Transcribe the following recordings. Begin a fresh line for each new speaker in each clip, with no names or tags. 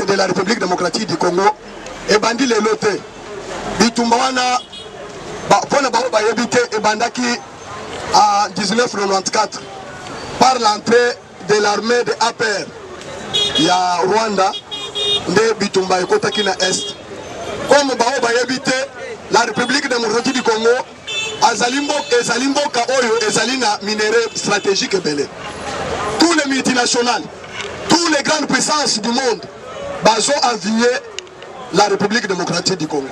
de la République démocratique du Congo ebandi lelo te bitumba wana mpo na bango bayebi te ebandaki en 1994 par l'entrée de l'armée de APR ya Rwanda nde bitumba ekotaki na est comme bango bayebi te la République démocratique du Congo Azali mboka, ezali mboka oyo ezali na minerais strategique ebele. Tous les multinationales, tous les grandes puissances du monde bazo avier la République démocratique du Congo.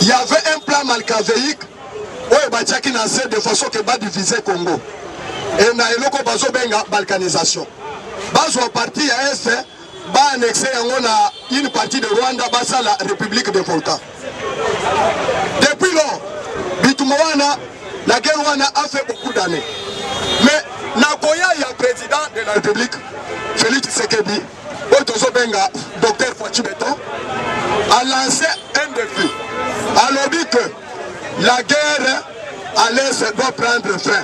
Il y avait un plan malcavéique oyo batiaki na se de façon que ba diviser Congo. Et na eloko bazo benga balkanisation. Bazo parti ya est ba annexe yango na une partie de Rwanda basala République de Volta depuis lors bitumba wana la guerre wana a fait beaucoup d'années mais nakoya ya président de la République Félix Tshisekedi oyo tozobenga docteur Fatshi Beton a lancé un défi alobi que la guerre à l'est doit prendre fin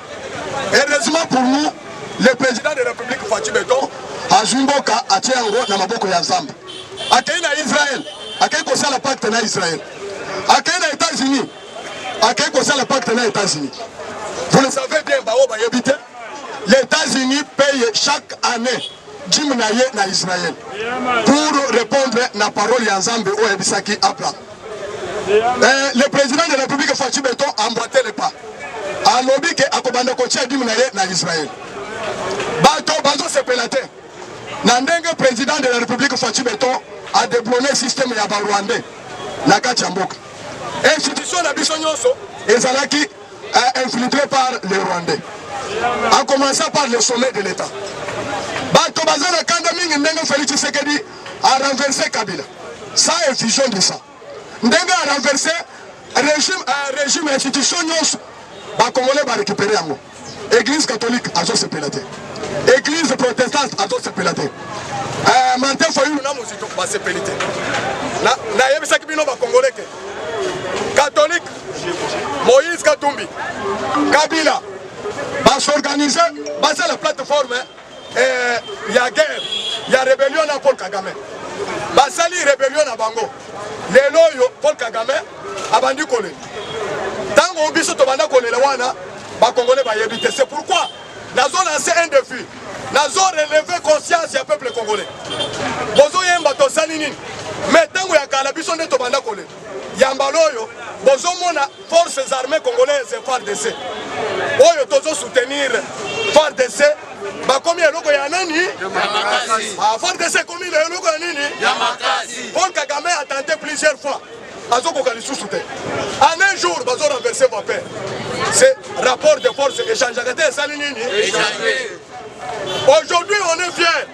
Heureusement pour nous, le président de la République Fatshi Beton azwi mboka atie yango na maboko ya Nzambe. Akei na Israël, akei kosala pacte na Israël. Akei na États-Unis, akei kosala pacte na États-Unis. Vous le savez bien, baoyo bayebi te, les États-Unis payent chaque année dime na ye na Israël pour répondre na parole ya Nzambe oyo ayebisaki Abraham. Eh, le président de la République Fatshi Beton emboîtait le pas. Alobi ke akobanda kotia dime na ye na Israël. Bato bazo sepela te. Na ndenge président de la République Fatshi Beton a déblonné système ya ba Rwandais na kati ya mboka. Institution na biso nyonso ezalaki eh, infiltré par les Rwandais. A commencer par le sommet de l'État. Bato baza na kanda mingi ndenge Félix Tshisekedi a renverse kabila ça est vision de ça ndenge a renverse régime euh, régime institution nyonso bakongole barécupere yango église catholique azosepela te église protestante azosepela te euh, martin fayulu na mozito basepeli te nayebisaki bino bakongole te catholique moïse katumbi kabila basorganize basala plateforme eh, ya guerre ya rebellion na Paul Kagame basali rebellion na bango lelo oyo Paul Kagame abandi kolela ntango biso tobanda kolela wana bakongole bayebi te c'est pourquoi nazo lance un défi nazo releve conscience ya peuple congolais bozoyemba tosali nini me ntango ya kala biso nde tobanda kolela yambala oyo bozomona Forces armées congolaises FARDC oyo tozo soutenir FARDC bakomi eloko ya nani? Ah, FARDC ekomi eloko ya nini? Paul Kagame a tenté plusieurs fois azokoka lisusu te en un jour bazo renverse vape ce rapport de force échangeaka te esali nini? Aujourd'hui on est fier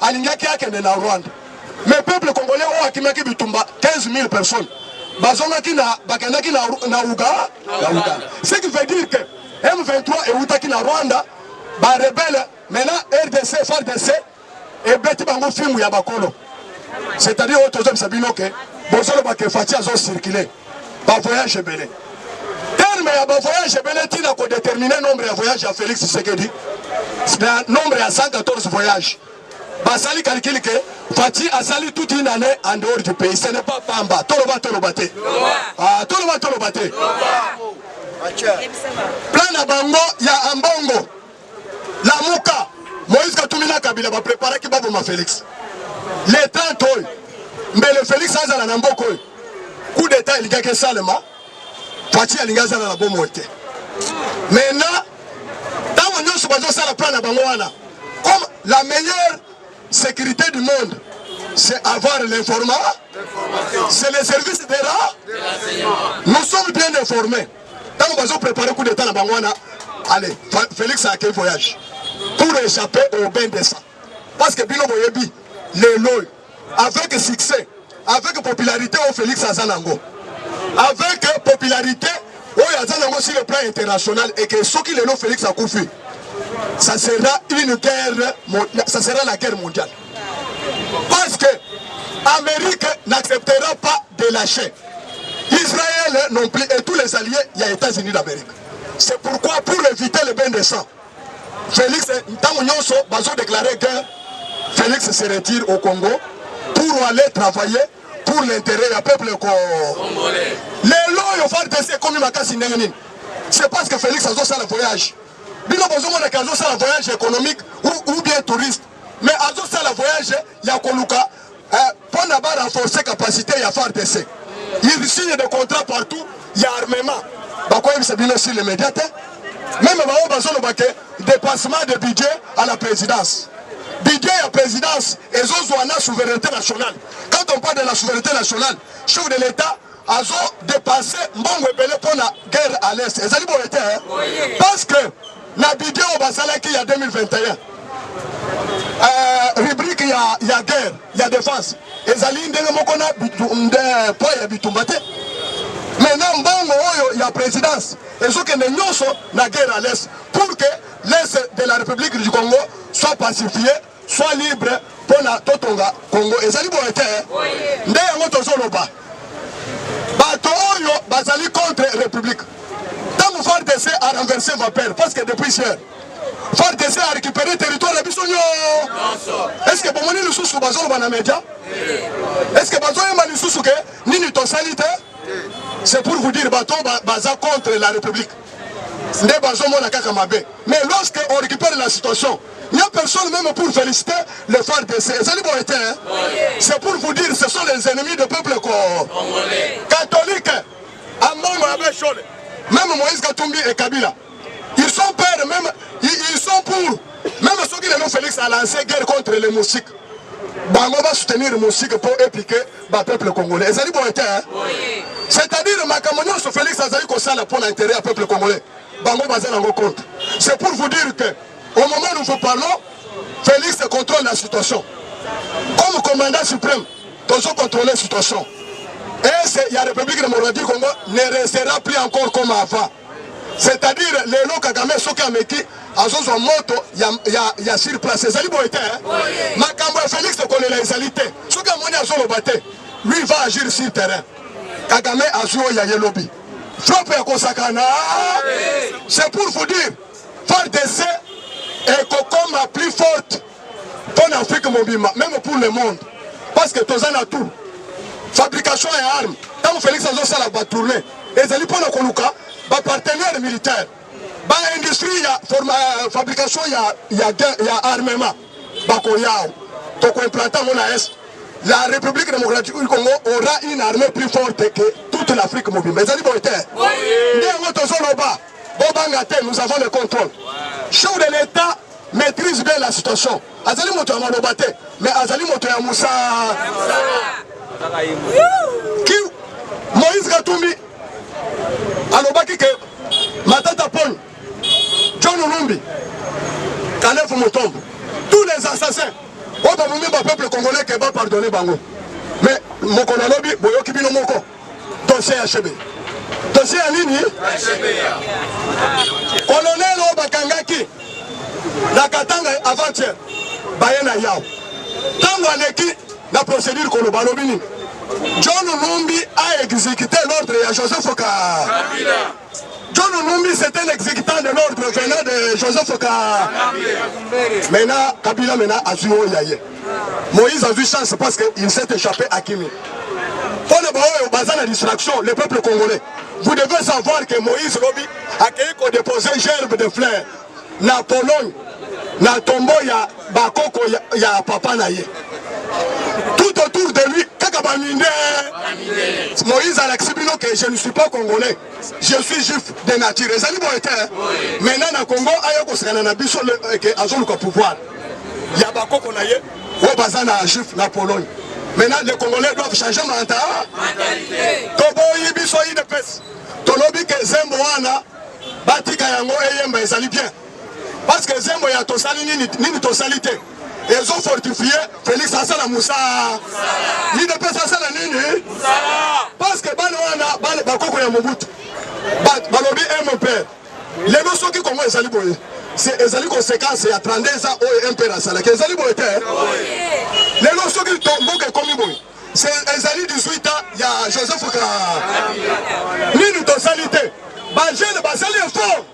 alingaki akende na Rwanda mais peuple congolais oyo akimaki bitumba 15000 personnes bazongaki na bakendaki na na Uga na Uga ce qui veut dire que M23 ewutaki na Rwanda ba rebelle maintenant RDC FARDC ebeti bango filmu ya bakolo c'est-à-dire oyo tozobisa bino ke bozoloba ke Fatshi azo circuler ba voyage ebele terme ya ba voyage ebele ntina kodetermine nombre ya voyage ya félix tshisekedi na nombre ya 114 voyage basali calcule ke fati asali toute une année en dehors du pays ce n'est pas pamba toloba toloba te ah, toloba toloba te plan na bango ya ambongo Lamuka! Moïse Katumbi na Kabila ba preparaki baboma Felix le 30 oyo mbele Felix azala na mboka oyo. Coup d'etat elikaki esalema, Fatshi alingi azala na bomoi te. Maintenant ntango nyonso bazosala plan na bango wana, comme la meilleure sécurité du monde c'est avoir l'information, c'est le service de la, nous sommes bien informés. Tango bazo preparer coup d'etat na bango wana, allez, Felix a quel voyage? Pour échapper au bain de sang. Parce que bino boyebi lelo avec succès, avec popularité au Felix aza nango. Avec popularité oyo aza nango sur le plan international et que soki lelo Felix akufi, ça sera une guerre, ça sera la guerre mondiale. Parce que Amérique n'acceptera pas de lâcher. Israël non plus et tous les alliés, il y a États-Unis d'Amérique. C'est pourquoi pour éviter le bain de sang, Félix, Ntango Nyonso, Bazo déclaré que Félix se retire au Congo pour aller travailler pour l'intérêt ya peuple congolais. Lelo yo FARDC ekomi makasi ndenge nini? C'est parce que Félix azosala voyage. Bino bozomona ke azosala voyage économique ou, ou bien touriste. Mais azo sala voyage ya koluka eh, pona ba renforcer capacité ya FARDC. Il signe des contrats partout ya armement. Bakoyebisa bino sur les médias te. Même baoyo bazoloba ke dépassement de budget à la présidence. Budget ya présidence ezozwa na souveraineté nationale. Quand on parle de la souveraineté nationale, chef de l'État azo depense mbongo ebele mpo na guerre à l'est ezali boye te parce que na budget oyo basalaki ya 2021 euh, rubrique ya, ya guerre ya défense ezali ndenge moko na poids ya bitumba te maintenant mbongo oyo ya présidence ezokende nyonso na guerre à l'est pour que l'est de la république du congo soit pacifié Soit libre pona totonga Congo ezali boye te nde yango tozoloba bato oyo bazali contre republique ntango FARDC a renverse vapeur parce que depuis hier FARDC a récupéré territoire ya biso nyonso. Est-ce que bomoni lisusu bazoloba na media? Est-ce que bazoyemba lisusu ke nini tosali te? C'est pour vous dire bato baza contre la République. nde bazomona kaka mabe mais lorsque on récupère la situation il n'y a personne même pour féliciter le FARDC ezali boye te c'est pour vous dire ce sont les ennemis de peuple ko catholique ambongo ya beshole même Moïse Katumbi et Kabila ils sont pères même ils sont pour même soki lelo Félix a lancé guerre contre les moustiques bango ba soutenir moustiques pour épiquer ba peuple congolais ezali boye te c'est-à-dire makambo nyonso Felix azali kosala mpo na intérêt ya peuple congolais bango baza nango compte c'est pour vous dire que au moment nous vous parlons Felix contrôle la situation comme commandant suprême tozo contrôler situation et ya République démocratique Congo ne restera plus encore comme avant C'est à dire lelo Kagame soki ameki azozwa moto ya, ya, ya sur place ezali boye te hein? Oh, yeah. makambo ya Felix kolela ezali te soki amoni azoloba te lui va agir sur terrain Kagame azwi oyo ya ye lobi frappe ya kosakana c'est pour vous dire FARDC ekokoma plus forte mpo na Afrique mobimba meme pour le monde parce que toza na tout fabrication ya arme ntango Felix azosala batourne ezali mpo na koluka bapartenaire militaire baindustrie ya euh, fabrication ya, ya, ya armement bakoyao tokoimplante yango na est la république démocratique du congo aura une armée plus forte que toute l'afrique mobimba ezali boye te nde yango tozoloba bobanga te nous avons le contrôle chef de l'état maîtrise bien la situation azali moto ya maloba te mais azali moto ya mosala ki moïse katumbi alobaki ke matata paul john olumbi kalefu motombo tous les assassins oyo babomi bapeuple congolais ke bapardonne bango mais mokolo alobi boyoki bino moko Dossier ya Shebe. Dossier ya nini? Ya Shebe. Colonel oyo bakangaki na Katanga avant-hier baye na yao ntango aleki na procédure koloba alobi nini? John Numbi a exécuté l'ordre ya Joseph Kabila. John Numbi c'était l'exécutant de l'ordre venant de Joseph Ka. Maintenant Kabila maintenant azui oyo ya ye. Moïse azui chance parce que il s'est échappé à Kimi. Mpo na baoyo baza na distraction le peuple congolais. Vous devez savoir que Moïse lobi akei ko déposer gerbe de fleurs na Pologne na tombo ya bakoko ya, ya papa na ye tout autour de lui kaka baminde moïse alakisi bino ke je ne suis pas congolais je suis juif de nature ezali boye te maintenant na congo aya kosekana na biso eh, ke azoluka pouvoir ya bakoko na ye oyo baza na juif na pologne maintenant les congolais doivent changer manta toboyi biso idps tolobi ke zembo wana Batika yango eyemba ezali bien. Parce que zembo ya tosali nini nini tosali te. Ezo fortifie Felix asala musa. Ni de pesa asala nini? Parce que bana wana bana bakoko ya Mobutu. Ba balobi eh mon père. Lelo soki Kongo ezali boye. C'est ezali conséquence ya 32 ans oyo MPR asalaki. Ezali boye te. Lelo soki mboka ekomi boye. Ezali 18 ans ya Joseph ka nini tosali te ba jeune basali effort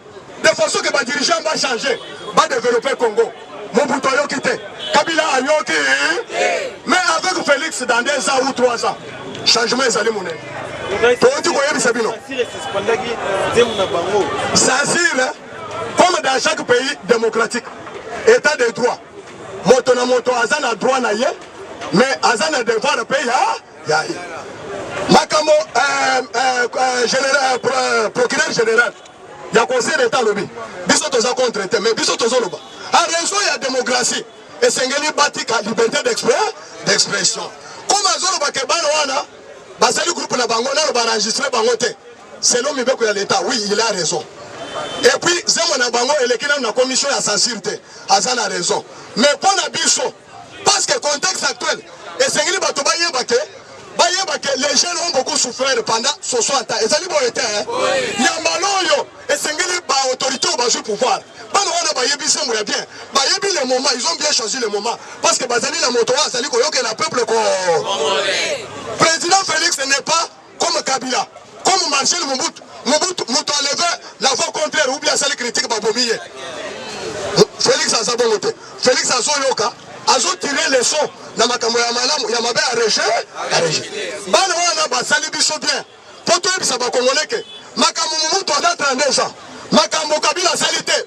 de façon que ba dirigeant ba changer ba développer Congo Mobutu ayoki te Kabila ayoki mais avec Félix dans deux ans ou trois ans changement ezali monene toyoti koyebisa bino sansire comme dans chaque pays démocratique état de droit Moto na moto aza na droit na ye mais aza na devoir pe ya ya ye. Makambo euh, euh, euh, général euh, procureur général ya conseil d'etat alobi biso toza contre te mais biso tozoloba a raison ya démocratie esengeli batika liberté d'expression comme azoloba ke bana wana bazali groupe na bango nano baenregistre bango te Selon mibeko ya l'etat oui il a raison et puis zemo na bango eleki nanu na commission ya censure te aza na raison mais mpo na biso parce que contexte actuel esengeli bato bayeba ke bayeba ke les jeunes ont beaucoup souffrir pendant 60 ans ezali boye te ya mbala oyo esengeli baautorité oyo bazwi pouvoir bana wana bayebi sembo ya bien bayebi le moment ils ont bien choisi le moment parce que bazali na moto oyo azali koyokela peuple ko président félix n'est pas Comme Kabila, comme Marcel Mobutu, Mobutu moto a levé la voix contraire ou bien asali critique babomi ye. Felix aza bongo te. Felix azoyoka, azotire leçon na makambo ya malamu ya mabe ya rejet ya rejet. Bana wana basali biso bien mpo toyebisa bakongoleke makambo Mobutu aza 32 ans makambo Kabila asali te.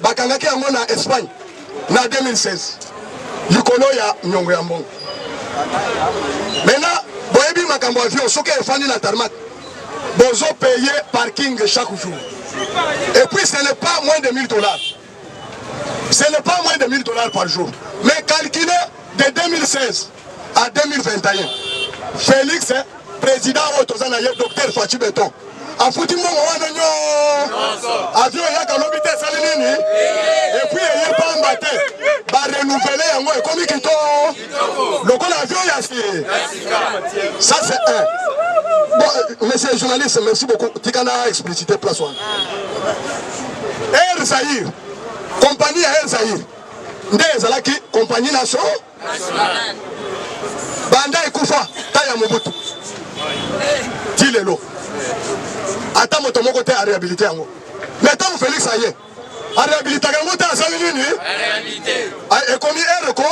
Bakangaki yango na Espagne na 2016 likolo ya nyongo ya mbongo. Mena boyebi makambo ya avion soki efandi na tarmac bozo paye parking chaque jour et puis ce n'est pas moins de 1000 dollars ce n'est pas moins de 1000 dollars par jour mais calculé de 2016 en 2021 Felix president oyo toza na ye docteur Fatshi Beton afuti mbongo wana nyonso avion eyaka lobi te esali nini epuis eye pamba te barenouvele yango ekomi kito lokola avion ya si ça c'est un bon euh, monsieur journaliste merci beaucoup tika na explicité place wana air zaïre compagnie ya air zaïre nde ezalaki compagnie nationale banda ekufa ta ya mobutu ti lelo ata moto moko te arehabilite yango me ntango felix aye arehabilitaka yango te asali nini ekomi ere ko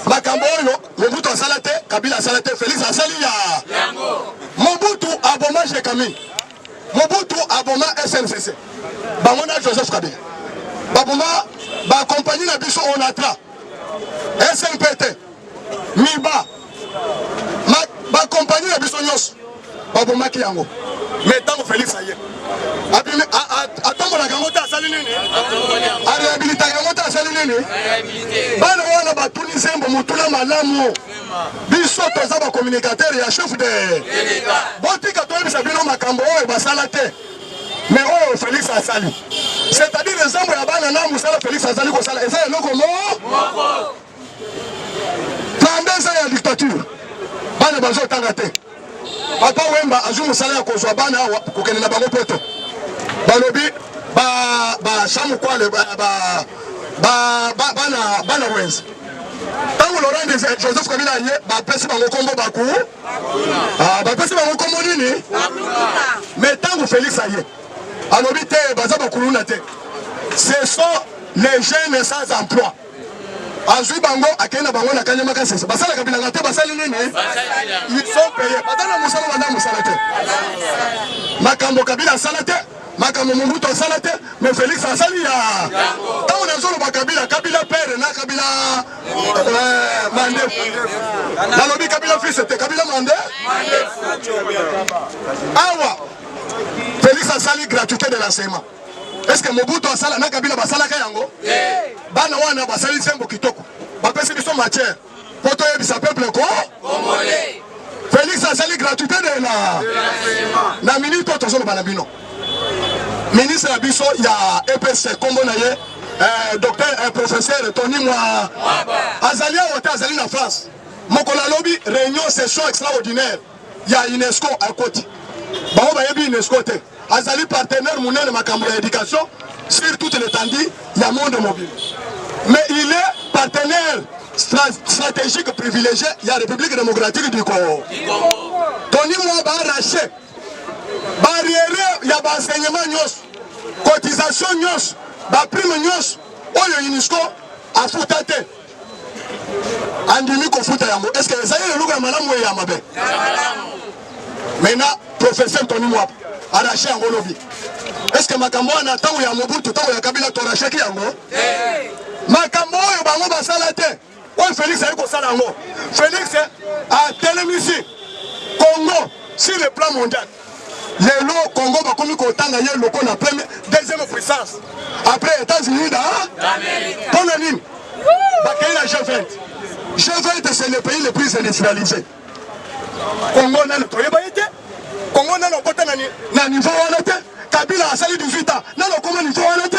makambo oyo mobutu asala te kabila asala te felix asali ya mobutu aboma jekami Mobutu aboma SNCC. Bango na Joseph Kabila. Baboma ba compagnie na biso Onatra. SNPT. Miba. Ma, ba compagnie na biso nyonso. Babomaki yango. Mais tango Felix aye. Abimi atombolaka yango te asali nini? Arehabilitaka yango te asali nini? Bana wana batuni zembo motuna malamu. biso toza ba communicateur ya chef de botika toyebisa bino makambo oyo basala te me oyo felix asali c'est-à-dire ezambo ya bana na mosala felix azali kosala eza eloko moko na nde eza ya dictature bana bazotanga te Papa Wemba azwi mosala ya kozwa bana awa kokende na bango poto. Balobi ba ba chamukwale ba ba ba bana bana wenze. Tango Laurent des Joseph Kabila aye bapesi bango kombo baku. Ah bapesi bango kombo nini? Mais tango Felix aye alobi te baza bakuluna te. Ce sont les jeunes sans emploi. azwi bango akei na bango na kanyama kasese basalaka bilanga te basali nini isopeye baza na mosala banda mosala te makambo kabila asala te makambo mobutu asala te me felix asali ya ntango nazoloba kabila kabila pere na kabila eh, mande nalobi kabila fils te kabila mande awa felix asali gratuité de l'enseignement Est-ce que Mobutu asala na Kabila basalaka yango? Bana wana basali sembo kitoko. Bapesi biso matière. Mpo toyebisa peuple ko Congolais. Felix asali gratuité de la na minute oyo tozoloba na bino. Ministre ya biso ya EPS kombo na ye eh, docteur eh, professeur Tony Mwa azali awa te azali na France. Mokolo alobi réunion session extraordinaire ya UNESCO akoti bango bayebi UNESCO te azali partenaire monene makambo ya éducation sur toute l'étendue ya monde mobile mais il est partenaire stratégique privilégié ya République démocratique du Congo toni mwa baarrache barriere ya baenseignement nyonso cotisation nyonso baprime nyonso oyo UNESCO afuta te andimi kofuta yango est ce que ezali eloko ya malamu eye ya mabe maintenant professeur tony mwap arache yango olobi est ce que makambo wana ntango ya mobutu ntango ya kabila toracheki yango makambo oyo bango basala te oyo felix ayi kosala yango felix atelemisi congo sur le plan mondial lelo congo bakomi kotanga ye lokola premier deuxième puissance après états-unis da mpo na nini bakei na g20 g20 c'est le pays le plus industrialisé congo nano toyeba ye te congo nano okota na niveau wana te kabila asali 18 ans nano okoma niveau wana te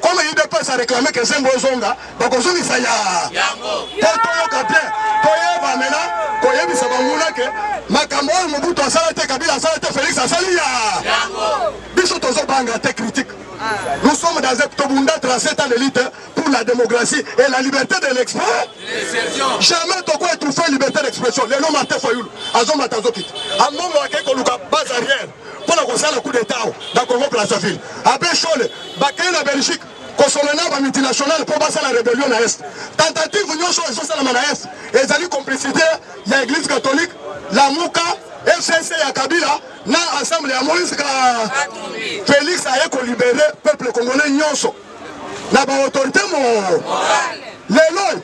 Comme udps a reclame que Zembo ezonga, bakozongisa ya yango po toyoka bien toyeba mena koyebisa banguna ke makambo oyo Mobutu asala te, Kabila asala te, Felix asali ya yango. Biso tozobanga te critique Nous sommes dans un Tobunda tracé à l'élite pour la démocratie et la liberté de l'expression. Jamais Toko étouffé liberté d'expression. Les noms Martin Fayoul, Azoma Tazokit. Amomo Akekoluka, base arrière. mpo na kosala coup d'etat awa na Congo Brazzaville. Abe Shole bakei na Belgique kosolo na ba multinationale mpo basala rebellion na Est. Tentative nyonso ezosalama na Est ezali complicité ya Eglise catholique, Lamuka, FCC ya Kabila na ensemble ya Moïse ka Felix aye kolibere peuple congolais nyonso na ba autorité mo lelo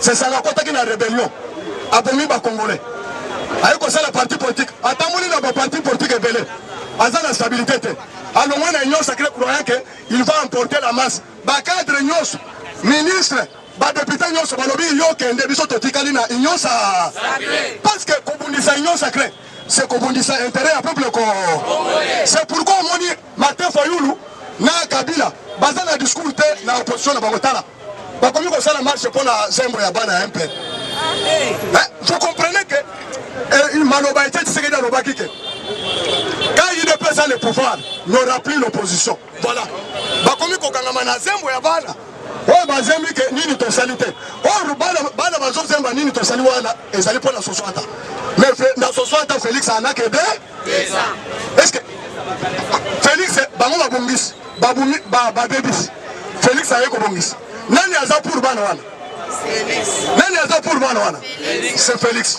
Sesanga akotaki na rebellion, abomi ba congolais, aye kosala parti politique, atamboli na ba parti politique ebele, aza na stabilité te, alongwe na union sacrée croyant que il va emporter la masse. Ba cadre nyonso, ministre, ba député nyonso balobi yo kende, biso totikali na union sa sacrée, parce que kobundisa union sacrée c'est kobundisa intérêt ya peuple ko, c'est pourquoi omoni Martin Fayulu na Kabila baza na discours te na opposition na bango tala bakomi kosala marche mpo na zembo ya bana ya mpr je comprenais que eh, maloba ete tshisekedi alobaki ke quand udps a le pouvoir n'aura plus l'opposition voilà bakomi kokangama na zembo ya bana oyo bazembi ke nini tosali te oyo bana bazozemba nini tosali wana ezali mpo na soso ata mais na soso ata félix anakede eske felix bango babongisi babebisi felix aye kobongisa nani aza pour bana wana nani aza pour bana wana c'est felix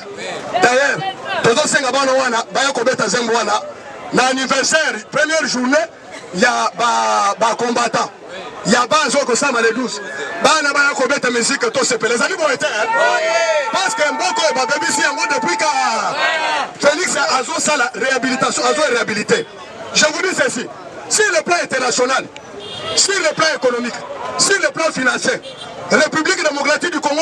d'ailleurs tozosenga bana wana baya kobeta zembo wana na anniversaire première journée ya ba ba combattant ya ba azo kosama le 12 bana baya kobeta musique to sepela ezali boye te parce que mboko oyo babebisi yango depuis ka Felix azosala réhabilitation azo réhabiliter je vous dis ceci sur le plan international sur le plan économique sur le plan financier République démocratique du Congo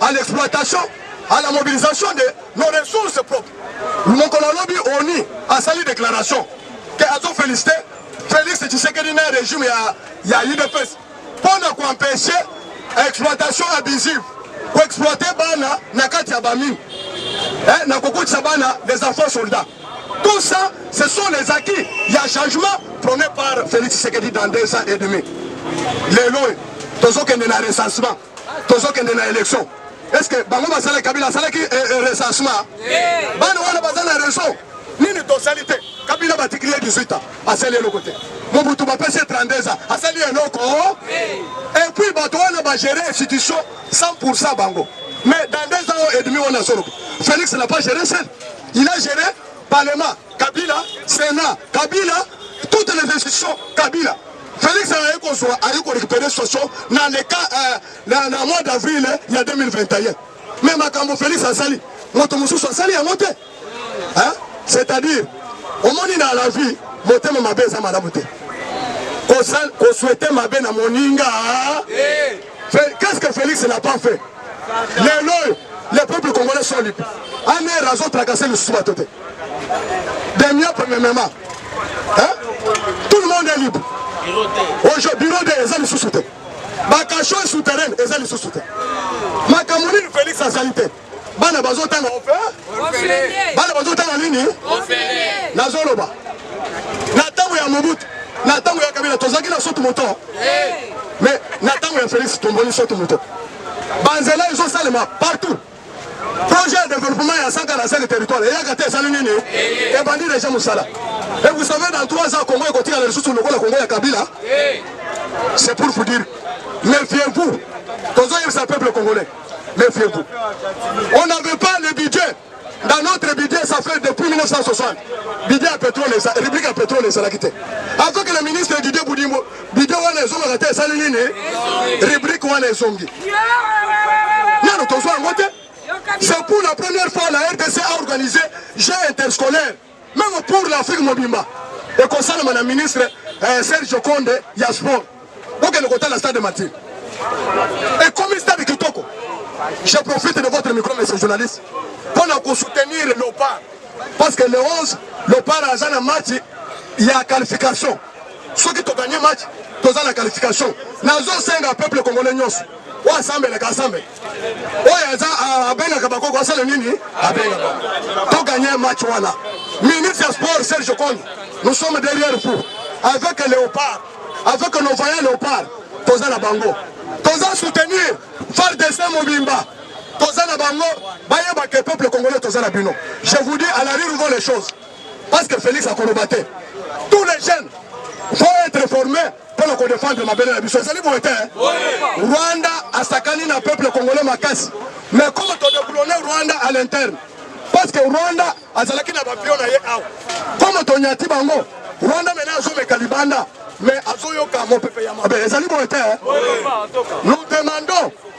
à l'exploitation, à la mobilisation de nos ressources propres. Mokolo alobi ONU asali déclaration que azo féliciter Félix Tshisekedi na régime ya ya UDPS pour ne qu'empêcher exploitation abusive, pour exploiter bana na kati ya bamine, eh, na kokotisa bana les enfants soldats. Tout ça, ce sont les acquis. Il y a changement prôné par Félix Tshisekedi dans deux ans et demi. Les lois, tous ceux qui sont dans le recensement. tozokende na election est ce que bango basala kabila asalaki eh, eh, recensement bana wana baza na raison nini tosali te kabila batikili ye 18 ans asali eloko te mobutu bapesi ye 32 ans asali eloko et puis bato wana bagere institution 100 bango mais dans deux ans et demi wana azoloba félix n'a pas géré seul il a géré parlement kabila sénat kabila toutes les institutions kabila Felix aye kozwa aye ko récupérer situation na le cas euh, na, na mois d'avril ya 2021 mais makambo Felix asali moto mosusu asali yango te hein? c'est-à-dire omoni na la vie motema mabe eza malamu te koswete mabe na moninga qu'est-ce que Felix n'a pas fait lelo le peuple congolais sont libres ane razo tracasser lisusu bato te Des miens premièrement. Hein? Tout le monde est libre. Aujourd'hui, bureau de eza lisusu te. Bakasho est souterraine eza lisusu te. Makambo nini Felix azali te. Bana bazotanga ofe. Bana bazotanga nini? Nazoloba. Na ntango ya Mobutu, na ntango ya Kabila tozalaki na sotu moto. Mais na ntango ya Felix tomboli sotu moto. Banzela ezosalema partout. Projet ya developpement ya 145 territoire eyaka te esali nini? Ebandi deja mosala. Et vous savez dans 3 ans Congo ekotikala lisusu lokola Congo ya Kabila. C'est pour vous dire, méfiez-vous. Tozoyebisa peuple congolais, méfiez-vous. On n'avait pas le budget dans notre budget, ça fait depuis 1960, budget à pétrole, rubrique à pétrole, ça l'a quitté. Avant que le ministre Didier Boudimbo Video wana ezongaka te esali nini? Rubrique wana ezongi. Nano tozwa yango te. C'est pour la première fois la RDC a organisé jeu interscolaire même pour l'Afrique mobimba. Ekosalama na ministre eh, Serge Konde ya sport. Bokende kotala stade Martyr. Ekomi stade kitoko. Je profite de votre micro, monsieur journaliste, pour nous soutenir le Lopard. Parce que le 11, le Lopard a un match, il y a qualification. Soki to gagner match, toza na qualification. Nazo senga peuple congolais nyonso. Oyo asambelaka asambela. Oyo aza abengaka bakoko asala nini? Abenga bango. To gagner match wana. Ministre ya sport Serge Kondo, nous sommes derrière vous. Avec Léopard, avec nos voyants Léopard, toza na bango. Toza soutenir FARDC mobimba. Toza na bango, bayeba que peuple congolais toza na bino. Je vous dis à la rue les choses. Parce que Felix akoloba te. Tous les jeunes vont être formés pour le défendre ma belle biso. Ezali boye te. Rwanda asakani na peuple congolais makasi. Mais comment to déboulonner Rwanda à l'interne Parce que Rwanda azalaki na bapio na ye awa. Comment to nyati bango Rwanda maintenant azomeka libanda mais azoyoka mopepe ya mabe. Ezali boye te. Nous demandons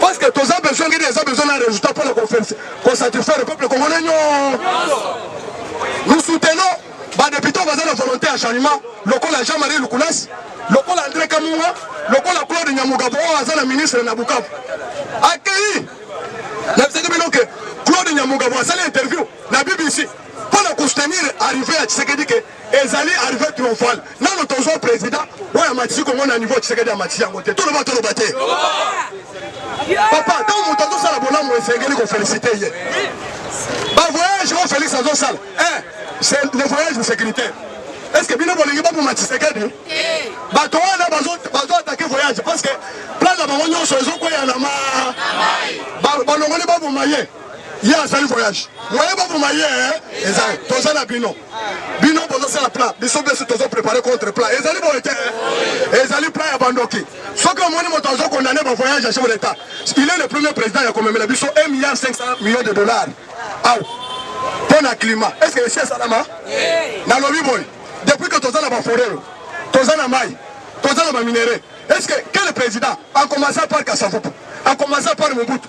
Parce que toza besoin ngini eza besoin na résultat pour le conférence ko satisfaire le peuple congolais non. Nous soutenons ba députés baza na volonté ya changement lokola Jean-Marie Lukulas, lokola André Kamunga, lokola Claude Nyamugabo oyo aza na ministre na Bukavu. Akeyi na bisaki bino ke Claude Nyamugabo asali interview na BBC mpo na koustenir arrive ya Tshisekedi ke Ezali arrive triomphal nano tozwa president oyo amatisi kongo na niveau tshisekedi amatisi yango te toloba toloba te papa ntango moto azosala bolamu esengeli kofelisite ye bavoyage oyo felix azosala eh, le voyage de sécurité est ce que bino bolingi baboma tshisekedi bato wana bazo atake voyage parce que plan na bango nyonso ezokweya na ma balongoli baboma ye ye azali voyage moye baboma ye eh, eza toza na bino bino bozosala plat biso biso tozo prepare contre plat ezali boye te eh? ezali plat ya bandoki soki omoni moto azo condamne bavoyage ya chef d'état il est le premier président ya komemela biso 1 milliard 500 millions de dollars aw mpo na climat est ce que esi esalama nalobi boye depuis que toza na baforero toza na mai toza na baminerais est ce que quel président a commencé par kasavupu a commencé par mobutu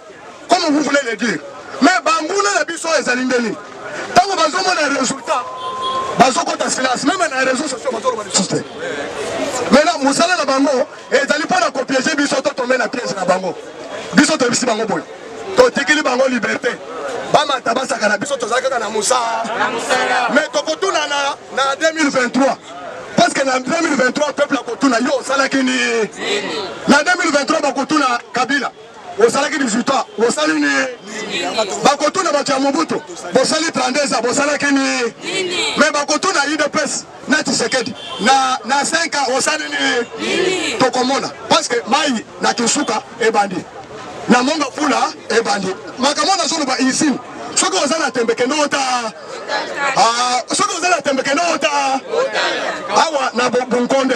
Comme vous voulez le dire. Mais banguna na biso ezali nde nini? Tango bazomona resultat, bazokota silence. Meme na réseaux sociaux bazoloba lisusu te. Maintenant mosala na bango ezali mpo na kopiege biso to tombe na piège na bango. Biso toyebisi bango boye. Totikili bango liberté. bamata basaka na biso tozali kaka na mosala mais tokotuna na 2023 parce que na 2023 peuple akotuna yo osalaki nini na 2023 bakotuna kabila Osalaki 18 ans, bosali nini? Bakotuna bato ya Mobutu, bosali 32 ans, bosalaki nini? Me bakotuna UDPS na Tshisekedi na na 5 ans, osali nini? Tokomona parce que mai na Kisuka ebandi na monga pula ebandi makambo nazoloba usine soki oza na tembe kende ota ah, soki oza na tembe kende ota awa na bunkonde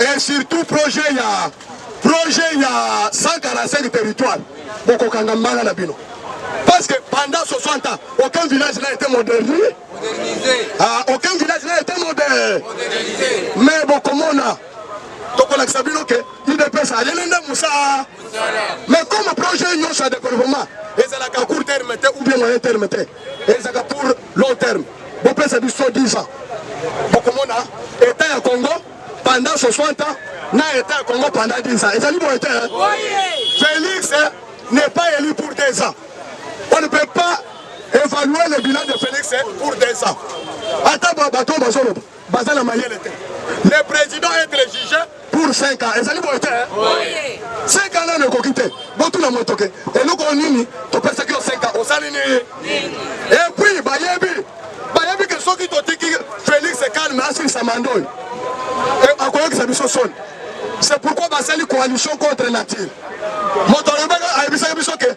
et surtout projet ya projet ya 145 territoire bokokanga mbala na bino parce que pendant 60 ans aucun village n'a été modernisé ah, aucun village n'a été modernisé mais bokomona tokolakisa bino ke udps ayeli nde mosala mais comme projet nyonso ya développement ezalaka court terme te ou bien moyen terme te Ezaka pour long terme. Bopesa biso 10 ans. Bokomona état ya Congo pendant 60 ans na état ya Congo pendant 10 ans. Ezali boye te. Félix n'est pas élu pour 10 ans. On ne peut pas évaluer le bilan de Félix pour 10 ans. Ata bato bazoloba Baza na mayele te. Le president etre juge pour 5 ans. Ezali boye te. Oui. 5 ans nano ekoki te. Botuna moto ke eloko nini topesaki yo 5 ans osali nini? Et puis bayebi bayebi ke soki totiki Felix calme asilisa manda oyo akoyokisa biso soni. C'est pourquoi basali coalition contre nature. Moto ayebisaki biso ke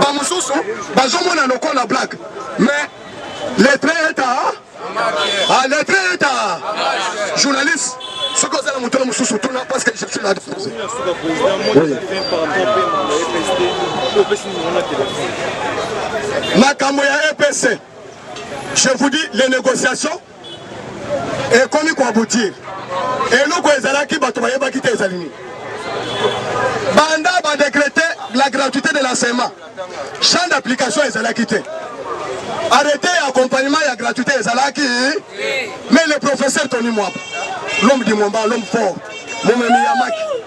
ba mususu bazomona lokola black mais letre eta ah, letre eta journaliste soki oza na moto na mosusu tuna parce que je suis là disposé makambo ya epc je vous dis les négociations ekomi ko aboutir eloko ezalaki bato bayebaki te ezali nini banda ba decrete la gratuité de l'enseignement champ d'application ezalaki te arrete ya accompagnement ya gratuité ezalaki mais le professeur tony mwaba l'homme du momba l'homme fort momemi ya maki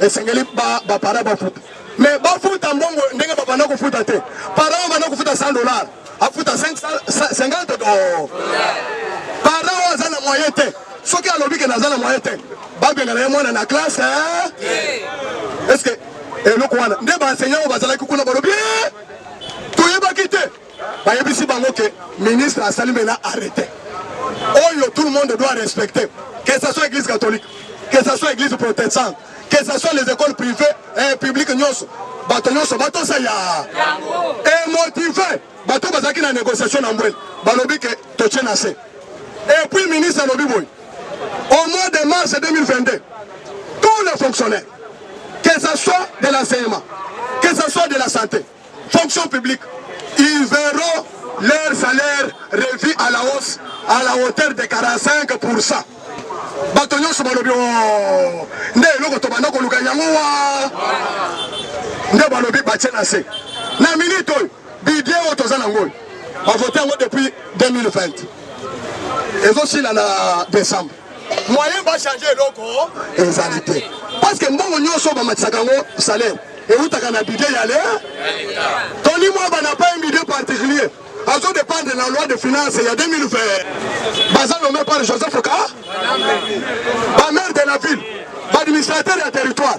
esengeli bapara bafuta me bafuta mbongo ndenge babanda kofuta te para babanda kofuta 100 dollar afuta 50 do para oyo aza na moyen te soki alobi ke naza na moyen te babengana ye mwana na classe eh? estce eloko wana nde baenseignant oyo bazalaki kuna balobi eh? toyebaki te bayebisi bango ke ministre asali mena arrete oyo tout le monde doit respecter que ce soit église catholique que ce soit église protestante que ce soit les écoles privées et eh, publiques nyonso bato nyonso batosa ya emotive eh, bato bazalaki na négociation na mbwele balobi ke totie na se et puis ministre alobi boye au mois de mars 2022 tous les fonctionnaires que ce soit de l'enseignement que ce soit de la santé Fonction publique, ils verront leur salaire revu à la hausse à la hauteur de 45%. bato nyonso balobi oh, nde eloko tobanda koluka yango wa nde balobi batie na se na minute oyo bidie oyo toza nango oyo bavote yango depuis 2020 ezosila na décembre moyen ba changer eloko ezali te parce que mbongo nyonso bamatisaka yango salaire ewutaka na budget ya le toni mwaba na pas un budget particulier azo dépendre na loi de finance ya 2020 baza nommé par joseph ka bamaire de la ville baadministrateur ya territoire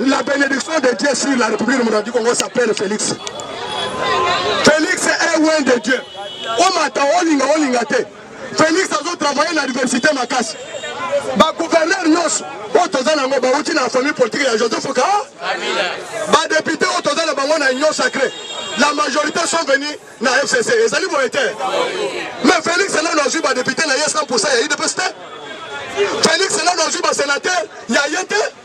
La benediction de Dieu sur la République démocratique du Congo s'appelle Félix. Félix est loin de Dieu. Omata olinga olinga te. Félix azo travailler na diversité makasi. Ba gouverneur nyonso oyo toza na yango bauti na famille politique ya Joseph Ka. Ba député oyo toza na bango na union sacrée. La majorité sont venus na FCC. Ezali boye te. Mais Félix nanu azwi ba député na ye 100% ya UDPS te. Félix nanu azwi ba sénateur ya ye te.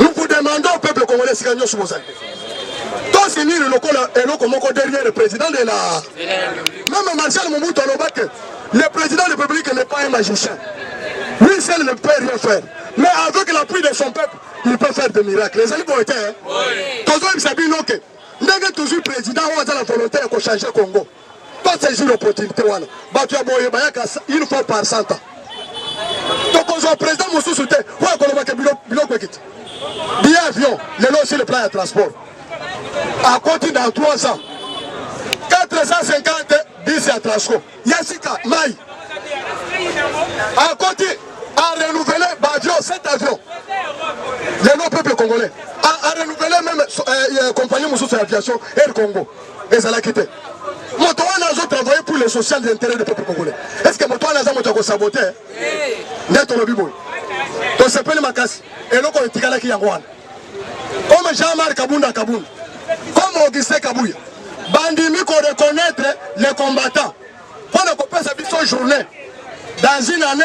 Nous vous demandons, peuple congolais, si nous sommes tosilili lokola eloko moko derrière le président de la même marshal mobutu aloba que le président de la république n'est pas un magicien lui seul ne peut rien faire mais avec l'appui de son peuple il peut faire des miracles ezali boye te tozoyebisa bino ke ndenge toujours président oyo aza na volonté ya kochange congo To saisir opportunité wana. Bato ya boye bayaka une fois par cent ans. Tokozwa président mosusu te oyo akoloba ke biloko ekiti. Billet avion lelo sur le plan ya transport. Akoti dans 3 ans. 450 bus ya Transco. Ya sika mai. Akoti a renouveler ba avion, 7 avions. Lelo peuple congolais a renouveler même euh, euh, compagnie mosusu ya aviation Air Congo. ezalaki te moto wana azo travailler pour le social de intérêt de peuple congolais est ce que moto wana aza moto ya kosabote nde tolobi boye tosepeli makasi eloko oyo etikalaki yango wana comme jean marc kabunda kabunda comme augustin kabuya bandimi koreconnaitre le combattant mpo na kopesa biso journée dans une année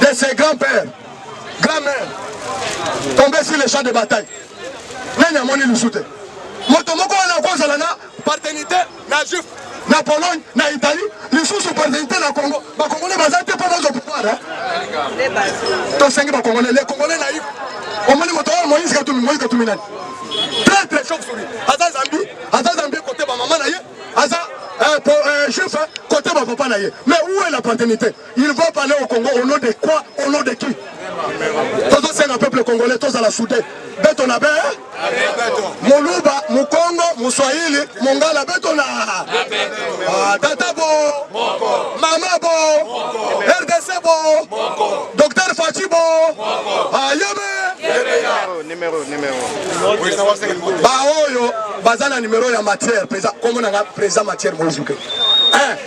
de ses grands pères, grand mère, tombé sur le champ de bataille. Nani amoni lusute. Moto moko wana kozala na paternité na juif na Pologne na Italie lisusu paternité na Congo. Ba Congolais baza te mpo bazo pouvoir. Eh? Tosengi ba Congolais, les Congolais naïfs. Omoni moto oyo Moïse Katumbi, Moïse Katumbi nani? Très très chauve souris. Aza Zambie, aza Zambie côté ba maman na ye, aza euh, euh, juif hein, côté ba papa na ye. Mais où est la paternité? Il va parler au Congo au nom de quoi? Au nom de qui? Tozo senga peuple congolais tozala soudé. Beto na be. Moluba, Mukongo, Muswahili, Mongala beto na. Ah, tata bo. Mama bo. RDC bo. Docteur Fachi bo. Ah, yebe. Numéro, numéro. Ba oyo baza na numéro ya matière, président. Comment on a président matière mozuke? Hein?